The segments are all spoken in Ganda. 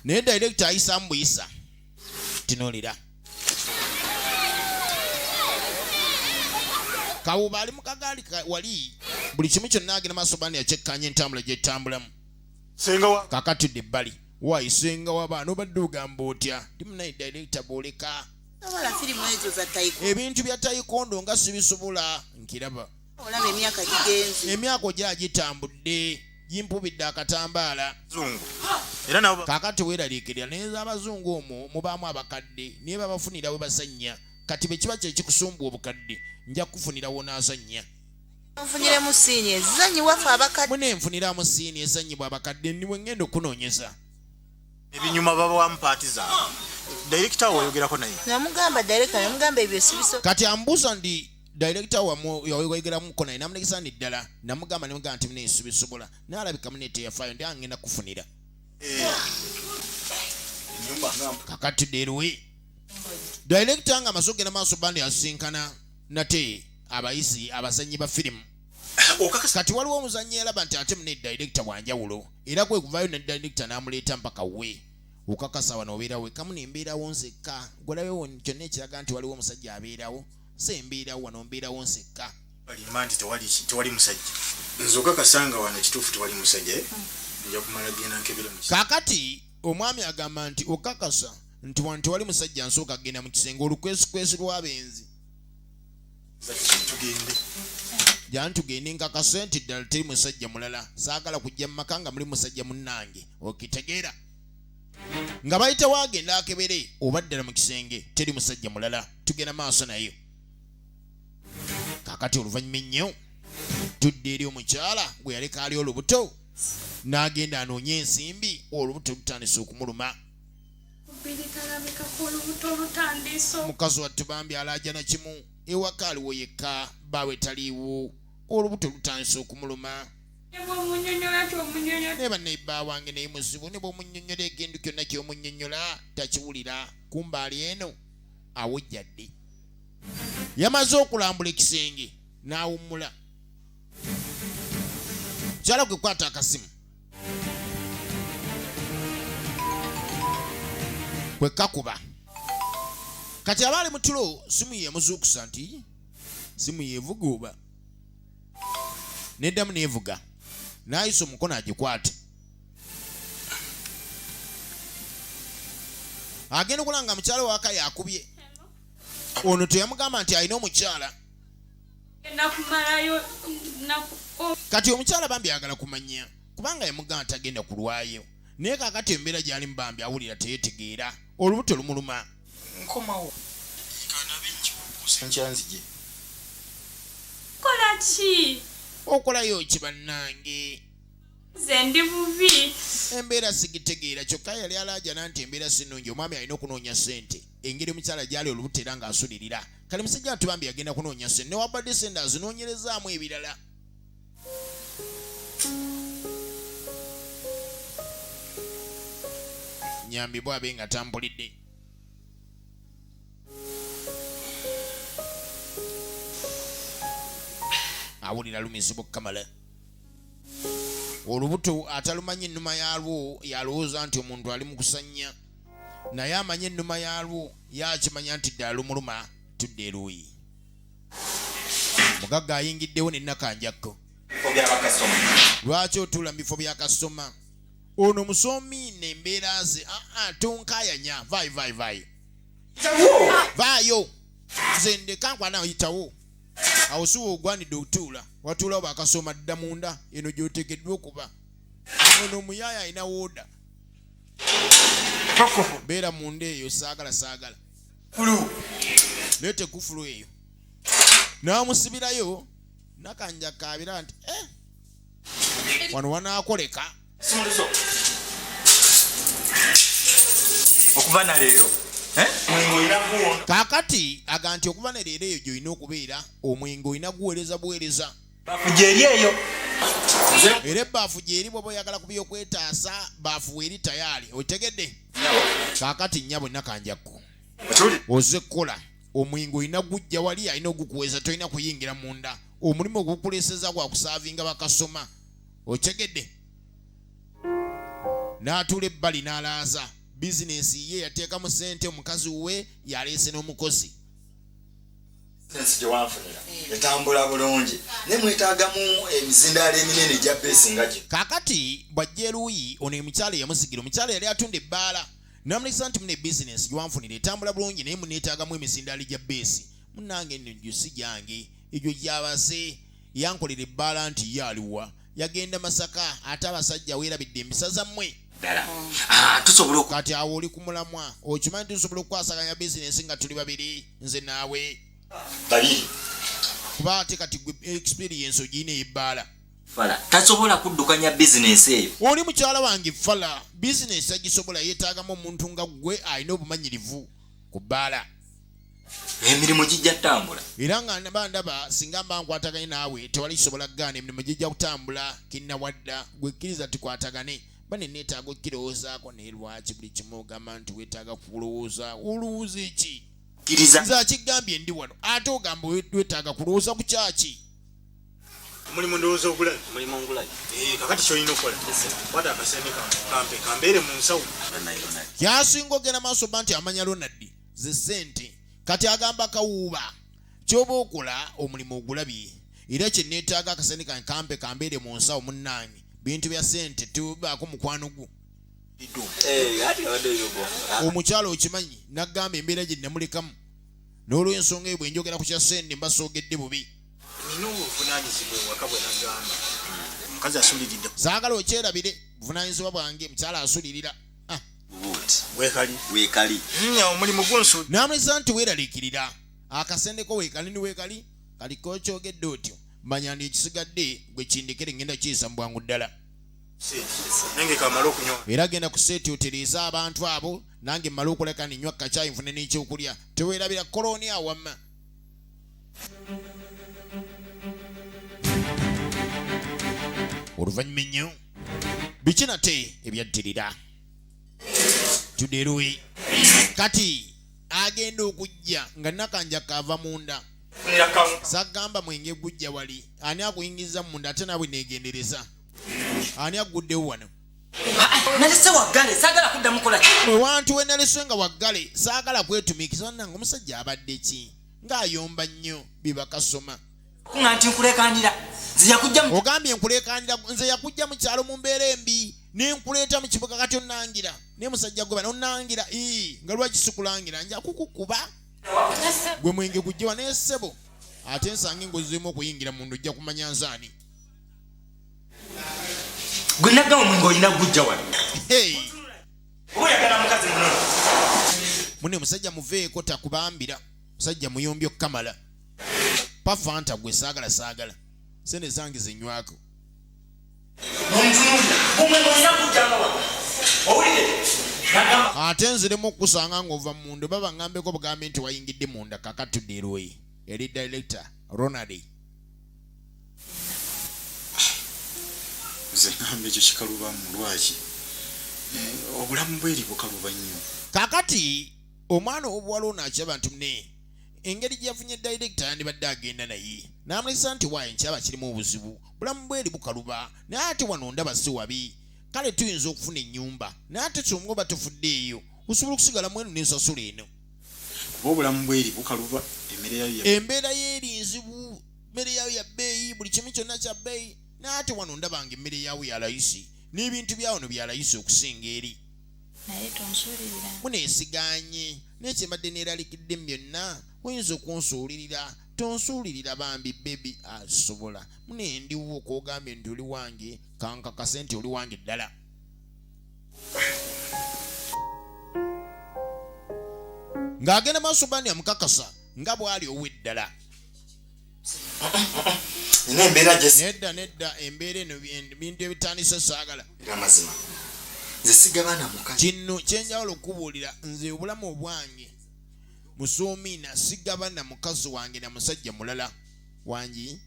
naye director ayisamu buyisa tinolira kawuba ali mukagaali wali buli kimu kyonna agenda maaso bani yakyekkanya entambula gyetambulamu kakatudde ebbali wayi senga wabaana obadde ogamba otya ndi munaye director bwoleka ebintu bya tayikondo nga sibisobola nkiraba olaba emyaka gigenze emyaka ogya gitambudde gimpubidde akatambaala kakati weeraliikirira naye z'abazungu omwo mubaamu abakadde naye babafunira we basanya kati bwe kiba kyekikusumba obukadde nja kukufunira wonaasanya nfuniremu siini ezanyi wafe abakadde mune nfuniramu siini ezanyibwa abakadde niwe ngenda okunoonyeza ebinyuma babawamu paati zaabwe dayirekita woyogerako naye namugamba dayirekita namugamba ebyo sibiso kati ambuuza ndi director wamwe yawegeramuko naye namulegesa ni ddala namugamba nemugamba nti munesubi sobola nalabika mune teyafayo ndi angenda kufunira kakati derwe director nga amaze okugenda maaso bandi asinkana nate abayisi abazanyi ba firimu kati waliwo omuzanyi yalaba nti ate mune director wanjawulo era kwe kuvayo ne director namuleeta mpaka we okakasa wano obeerawo ekamu nembeerawo nzekka gwalawewo kyonna ekiraga nti waliwo omusajja abeerawo nze mbeera wano mbeerawo nsekka balimba nti tewali musajja nze okakasanga wano kituufu tewali musajja eh? nja kumala genda nkebere mu kakati omwami agamba nti okakasa nti wano tewali musajja nsooka kugenda mu kisenge olukwesikwesi lw'abenzi tugende jantugende nkakase nti ddala teri musajja mulala saagala kujja mu maka nga muli musajja munnange okitegeera nga bayitawo agenda akebere oba ddala mu kisenge teri musajja mulala tugenda maaso nayo kakati oluvannyuma ennyo tudde eri omukyala gwe yaleka ali olubuto n'agenda anoonye ensimbi olubuto lutandise okumuluma mukazi wattu bambi alaajana kimu ewaka aliwo yekka baawe taliiwo olubuto lutandise okumuluma naye bannaibba wange naye muzibu ne bwomunyonyola ekintu kyonna kyomunyonyola takiwulira kumbaali eno awujja ddi yamaze okulambula ekisenge n'awummula kyala gwe kwata akasimu kwe kakuba kati aba ali mu tulo simu yemuzuukusa nti simu yevuga oba neddamu nevuga n'ayisa omukono agikwate agenda okulaba nga mukyala waka yakubye ono teyamugamba nti alina omukyala kati omukyala bambi ayagala kumanya kubanga yamugamba nti agenda kulwayo naye kakati embeera gyali mubambi awulira teyetegeera olubuto lumuluma nkomawo nkyanzije kola ki okolayo ki bannange nze ndi bubi embeera sigitegeera kyokka yali alaajana nti embeera sinungi omwami alina okunoonya sente engeri omukyala gyali olubuto era ng'asulirira kale musajja nti bambi yagenda kunoonya sente newabadde sente azinoonyerezaamu ebirala nyambi bwabe nga tambulidde awulira lumizibu kamala olubuto atalumanyi ennuma yaalwo yalowooza nti omuntu ali mu kusannya naye amanyi ennuma yaalwo yakimanya nti ddala lumuluma tudde eruuyi mugagga ayingiddewo nenakanjakko lwaki otuula mu bifo bya kasitoma ono musomi nembeera ze aa ah, ah, tonkayanya vayi vayi vayi vaayo nze ndekankwana yitawo awo siwa ogwanidde okutuula watuulawo bakasoma dda munda eno gyotegeddwa okuba ono omuyaaye alina wooda beera munda eyo saagala saagala leeta ekufulu eyo n'amusibirayo nakanja kaabira nti eh, wano wanaakoleka okuva na leero eh? kakati aga nti okuva ne leero eyo gyolina okubeera omwenge olina guweereza buweereza gyeri eyo era ebbaafu gyeri bwoba oyagala ku byokwetaasa baafu weeri tayaali otegedde kakati nyabo nakanjakko oze kukola omwenge olina gujja wali alina ogukuweza tolina kuyingira munda omulimu ogukuleseza gwakusaavinga bakasoma okitegedde n'atuula ebbali n'alaaza bizinensi ye yateekamu sente omukazi we yaleese n'omukozi ensi gyewanfunira etambula bulungi naye mwetaagamu emizindaalo eminene egya beesi nga gye kaakati bw'ajja eruuyi ono emukyalo eyamusigira omukyalo yali atunda ebbaala namulisa nti mune bizinensi gyewanfunira etambula bulungi naye muneetaagamu emizindaalo egya beesi munange nno gyo si gyange egyo gyabaze yankolera ebbaala nti ye aliwa yagenda masaka ate abasajja weerabidde embisa zammwe hmm. ah, kati awo oli ku mulamwa okimanyi tusobola okukwasaganya bizinensi nga tuli babiri nze naawe kuba ate kati gwe experience ogirina eyebbaala fala tasobola kuddukanya bizinensi eyo oli mukyala wange fala bizinensi agisobola yeetaagamu omuntu nga ggwe alina obumanyirivu ku bbaala emirimu gijja kutambula era nga naba ndaba singa mba nkwataganye naawe tewali kisobola kugaana emirimu gijja kutambula kinnawadda gwekkiriza tukwatagane bane neetaaga okukirowoozaako naye lwaki buli kimu ogamba nti weetaaga kulowooza olowooza eki kiriza kigambye ndi wano ate ogamba wetaaga kulowooza ku kyaki omulimu ndowooza ogulabi omulimu ngulabi eh, kakati kyolina okukola wata akasente kampe kambeere mu nsawo kyasinga ogenda maaso ba nti amanya lonaddi ze ssente kati agamba kawuuba kyoba okola omulimu ogulabye era kyeneetaaga akasente kange kampe kambeere mu nsawo munnange bintu bya ssente tubaako mukwano gwo eh, ah. omukyalo okimanyi nagamba embeera gye namulekamu n'olwensonga ebwe njogera ku kya ssente mbasoogedde bubi saagala okyerabire buvunanyizibwa bwange mukyalo asulirira ah. wekali wekali hmm, omulimu gunsu namulisa nti weralikirira akasendeko wekali ni wekali kaliko okyogedde otyo manya ndi ekisigadde gwe kindekere ngenda kiyisa mu bwangu ddala era genda kuseeti otereeza abantu abo nange mmale okuleka ninywa kacaayi nfune n'ekyokulya teweerabira kolooni awamma oluvannyuma ennyo biki nate ebyaddirira tuderuwe kati agenda okujja nga nakanja kaava munda sagamba mwenge gujja wali ani akuyingiza munda ate naawe negendereza ani aguddewo wano nalese waggale saagala kudda mukola ewantu we nalese nga waggale saagala kwetumiikiza wanange omusajja abadde ki ng'ayomba nnyo bibakasoma nga nti nkulekanira ogambye nkulekanira nze yakujja mu kyalo mu mbeera embi ne nkuleeta mu kibuga kati onnangira naye musajja gwe bana onnangira ii nga lwaki sikulangira nja kukukuba gwe mwenge gujjewa naye ssebo ate nsanga engozi zirimu okuyingira mundu ojja kumanya nzaani gwe nagamba omwenge olina gujja wano oyagala mukazi muno mune musajja muveeko takubambira musajja muyombi okukamala pafanta gwe saagala saagala sente zange zenywako ate nziremu okukusanga ngaova munda oba bangambeko bugambe nti wayingidde munda kakatudde erwoyi eri director ronald nze ŋamba ekyo kikaluba mu lwaki eh, obulamu bweri bukaluba nnyo kakati omwana owobuwala ono akyaba nti mune engeri gyeyafunye dayirekita yandibadde agenda naye n'amulesa nti waayo nkyaba kirimu obuzibu bulamu bweri bukaluba naye ate wano ndaba si wabi kale tuyinza okufuna ennyumba naye ate kyonga oba tufudde eyo osobola okusigala mwenu nensasula eno Kuba obulamu bw'eri bukaluba, emmere yayo ya. Embeera y'eri nzibu, emmere yayo ya bbeeyi, buli kimu kyonna kya bbeeyi. Naye ate wano ndaba nga emmere yaawo ya layisi, n'ebintu bya wano bya layisi okusinga eri. Naye tonsuulirira. Muneesigaanye, naye kye mbadde neeralikidde mu byonna, oyinza okunsuulirira. Tonsuulirira bambi, bbebi. Ah, sisobola. Mune, ndiwo, k'ogambye nti oli wange, ka nkakase nti oli wange ddala. ng'agenda maaso bani amukakasa nga bw'ali ow'eddala nina embeera nedda nedda embeera eno bintu ebitandise saagala amazima nze sigabana muka kino kyenjawulo okukubuulira nze obulamu obwange musuumiina sigabana mukazi wange na musajja mulala wangi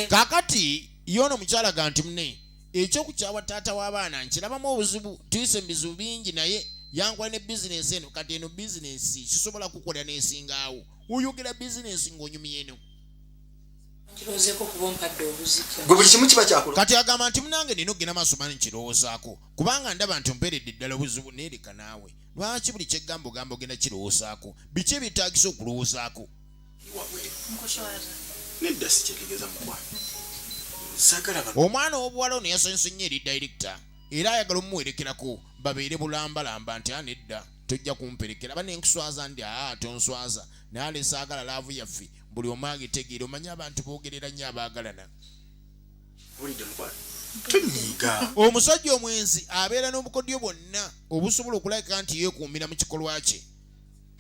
kakati ye ono mukyala ganti mune ekyokukyawa taata w'abaana nkirabamu obuzibu tuyise mu bizibu bingi naye yankola ne bizinensi eno kati eno bizinensi sisobola kukola nesingaawo oyogera bizinensi ng'onyumya eno kati agamba nti munange nina okugenda maaso mani nkirowoozaako kubanga ndaba nti omperedde ddala obuzibu neereka naawe lwaki buli kyegamba ogamba ogenda kirowoozaako biki ebyetagisa okulowoozaako nedda sikyetegeza mukwa omwana ow'obuwala ono yasanyuse nnyo eri dayirekita era ayagala omuwerekerako babeere bulambalamba nti anedda tojja kumperekera aba nenkuswaza ndi aa ah, tonswaza naye alesaagala laavu yaffe buli omu agitegeera omanye abantu boogerera nnyo abaagalana omusajja omwenzi abeera n'obukodyo bwonna obusobola okulabika nti yeekuumira mu kikolwa kye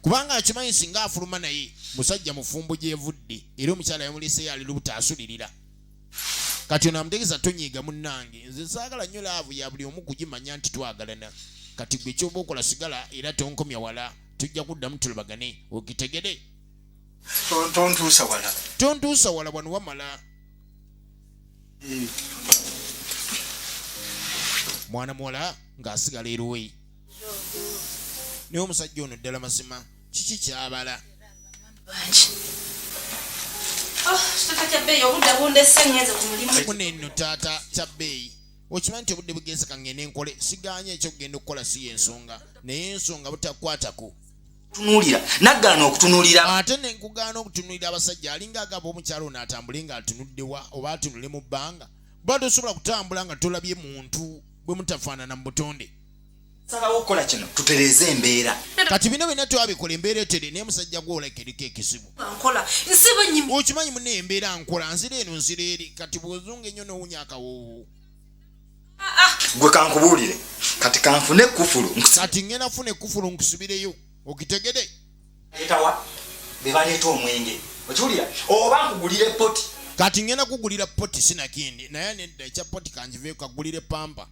kubanga akimanyi singa afuluma naye musajja mufumbo gyevudde era omukyala yamuleseyo ali lubuta asulirira kati ono amutegeeza tonyiiga munnange nze saagala nnyo laavu ya buli omu kugimanya nti twagalana kati gwe kyoba okola sigala era tonkomya wala tujja kuddamu tulubagane okitegere tontuusa wala tontuusa wala wano wamala mwana muwala ng'asigala eruweyi naye omusajja ono ddala mazima kiki kyabala muneeno taata kya bbeeyi okimanyi nti obudde bugenzeka ngende enkole siganye ekyokugenda okukola si yensonga naye ensonga butakwatako tunulira nagaana okutunulira ate nenkugaana okutunulira abasajja alinga agamba omukyalo ono atambule nga atunuddewa oba atunule mu bbanga ba tosobola kutambula nga tolabye muntu bwe mutafaanana mu butonde salawo okukola kino tutereeze embeera kati bino byonna twabikola embeera etere naye musajja gwoleka eriko ekizibu okimanyi muna embeera nkola nzira eno nzira eri kati bwozunga ennyo nowunya akawoowo gwe kankubuulire kati kanfune kufulu kati ngenda funa ekufulu nkusubireyo okitegede etawa bebaleeta omwenge okiwulira oba nkugulire poti kati ngenda kugulira poti sinakindi naye nedda ekya poti kanjive kagulire pampa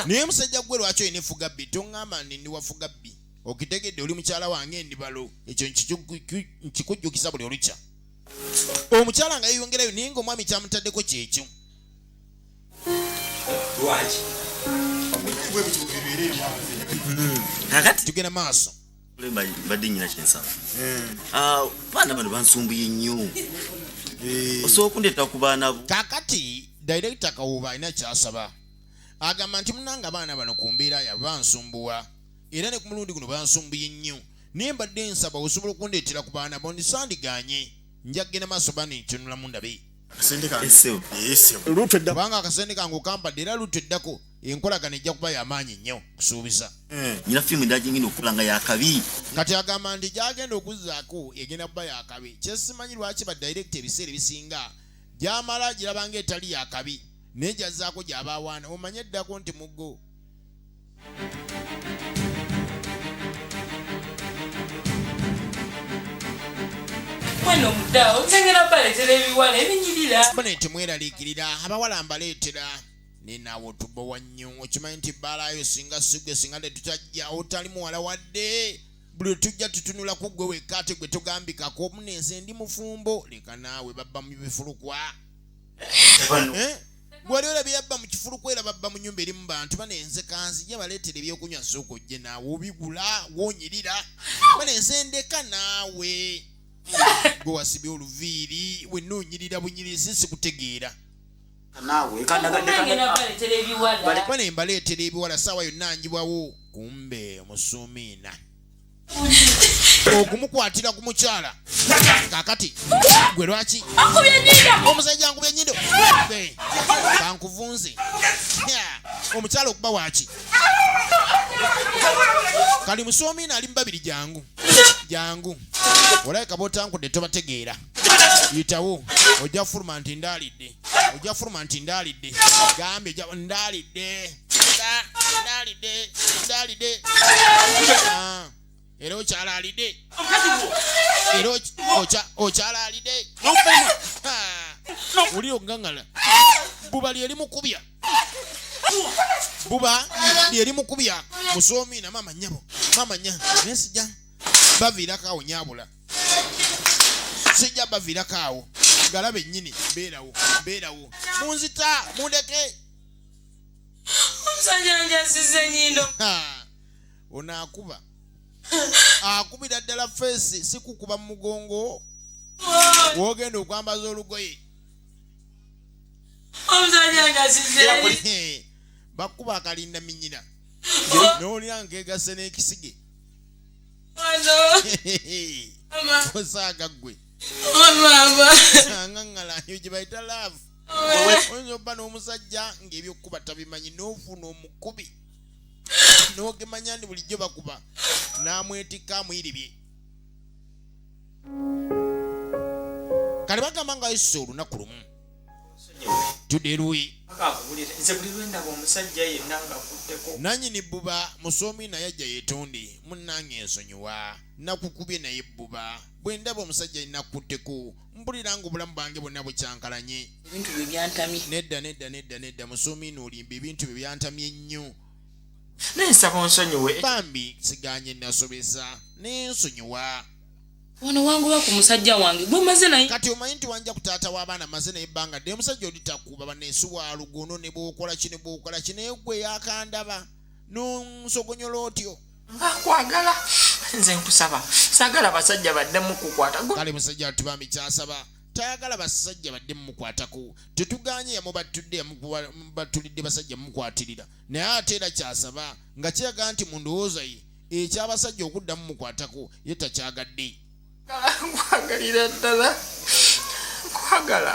naye musajja gwe lwaki olina efuga bbi toŋŋamba ndi ndi wafuga bbi okitegedde oli mukyala wange endibalo ekyo nkikujjukisa buli olukya omukyala nga yeyongerayo naye nga omwami kyamutaddeko kyekyo kakati tugenda maaso mbadde nyina kyensaba ah, baana bano bansumbuye nnyo eh. osobola okundeeta ku baana bo kakati direkita kawuba alina kyasaba agamba nti munanga abaana bano ku mbeera yabo bansumbuwa era ne ku mulundi guno bansumbuye nnyo naye mbadde nsaba osobola okundeetera ku baana bo ndisandigaanye njaggena maaso baana entunulamu ndabe kubanga akasente kange okampadde era lutu eddako enkolagana ejja kuba yamaanyi nnyo kusuubiza eh, nyina firimu ndagingina okula nga yakabi kati agamba nti gyagenda okuzaako egenda kuba yakabi kyesimanyi lwaki badirekita ebiseera ebisinga gyamala girabanga etali yakabi naye gyazaako gyabaawaana omanye eddako nti muggo mwana omuda okyengera baleetera ebiwala ebinyirira bane temweraliikirira abawala mbaleetera nenawe otubowa nnyo okimanyi nti bbaalayo singa sigwe singa tetutajja otali muwala wadde buli tujja tutunula ku gwe wekka ate gwe togambikako omunenze ndi mufumbo leka naawe babba mu bifulukwa eh? gwali olabye yabba mu kifulu kwera babba mu nyumba erimu bantu bana enze kanzija baleetera ebyokunywa sooka ojje naawe obigula wonyirira bana enze ndeka naawe gwe wasibye oluviiri wenna onyirira bunyirizi sikutegeera bana embaleetera ebiwala saawa yonna njibwawo kumbe omusuumiina okumukwatira ku mukyala kakati gwe lwaki omusajja nkubye nyindo kankuvunze omukyala okuba waki kali musoomi naali mubabiri jangu jangu olabika botankudde tobategeera yitawo ojja fuluma nti ndaalidde ojja fuluma nti ndaalidde gambye ndaalidde era okyalalide era okyalalide oli ogangala buba lyeri mukubya buba lyeri mukubya musoomi na maama nyabo maama nya naye sijja baviirako awo nyabula sijja baviirako awo galabe nnyini beerawo beerawo munzita mundeke omusajja njaziza enyindo ono akuba akubira ddala feesi sikukuba mu mugongo wogenda okwambaza olugoye omusajja njaziza bakuba akalinda minyina nowulira nkegase n'ekisige osaaga ggwe aŋaŋala eyo gye bayita laavu oyinza obba n'omusajja ng'ebyokukuba tabimanyi n'ofuna omukubi n'ogemanya ndi bulijjo bakuba n'amwetikka amuyiribye kale bagamba nga yisa olunaku lumu tudde luyi nanyini bbuba musoomi naye ajja yetonde munnange ensonyiwa nakukubye naye bbuba bwe ndaba omusajja yinakutteko mbulira nga obulamu bwange bonna bukyankalanye ebintu bye byantamye nedda nedda nedda nedda musuumiina olimba ebintu bye byantamye nnyo naye nsaba onsonyiwe bambi siganye nasobeza naye nsonyiwa wano wangoba ku musajja wange gwe maze naye kati omanyi nti wanja ku taata w'abaana maze naye ebbanga dde omusajja oli takuba banensi wa lugono ne bwokola ki ne bwokola ki naye gwe yakandaba nonsogonyola otyo nkwagala nze nkusaba sagala basajja badde mukukwata kale musajja watu bambi kyasaba tayagala basajja badde mumukwatako tetuganye yamubattudde yamubattulidde basajja mumukwatirira naye ate era kyasaba nga kiraga nti mu ndowooza ye ekyabasajja okudda mumukwatako ye takyagadde nkwagalira ddala nkwagala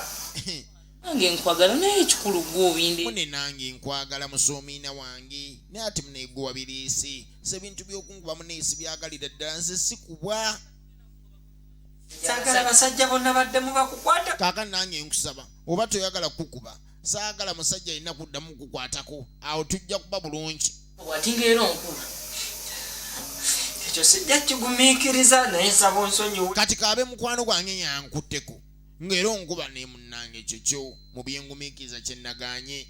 nange nkwagala naye ekikulu gwobinde mune nange nkwagala musomiina wange naye ati muneegowa bireesi se bintu byokunkuba muneesi byagalira ddala nze sikubwa sagala basajja bonna badde mubakukwata kaka nange nkusaba oba toyagala kukuba saagala musajja alina kuddamu kukwatako awo tujja kuba bulungi watinga era onkuba ekyo sijja kigumiikiriza naye nsaba onsonyiwe kati kaabe mukwano gwange yankutteko ng'era onkuba ne munnange ekyo kyo mu byengumiikiriza kye nnagaanye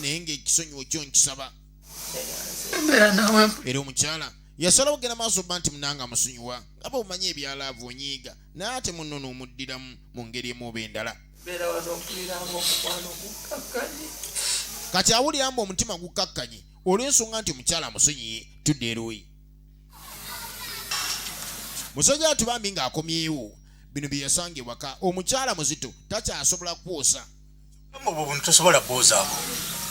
naye ng'ekisonyiwo kyo nkisaba era omukyala yasalawo kugenda maaso ba nti munanga amusonyiwa nga bwemumanyi ebyalaavu onyiiga naye ate munno n'omuddiramu mu ngeri emu oba endala kati awulira mbu omutima gukkakkanye olw'ensonga nti omukyala amusonyiye tudde erooyi musajja atubambi ng'akomyewo bino bye yasanga ewaka omukyala muzito takyasobola kwosa obwo buntu tosobola bwozaako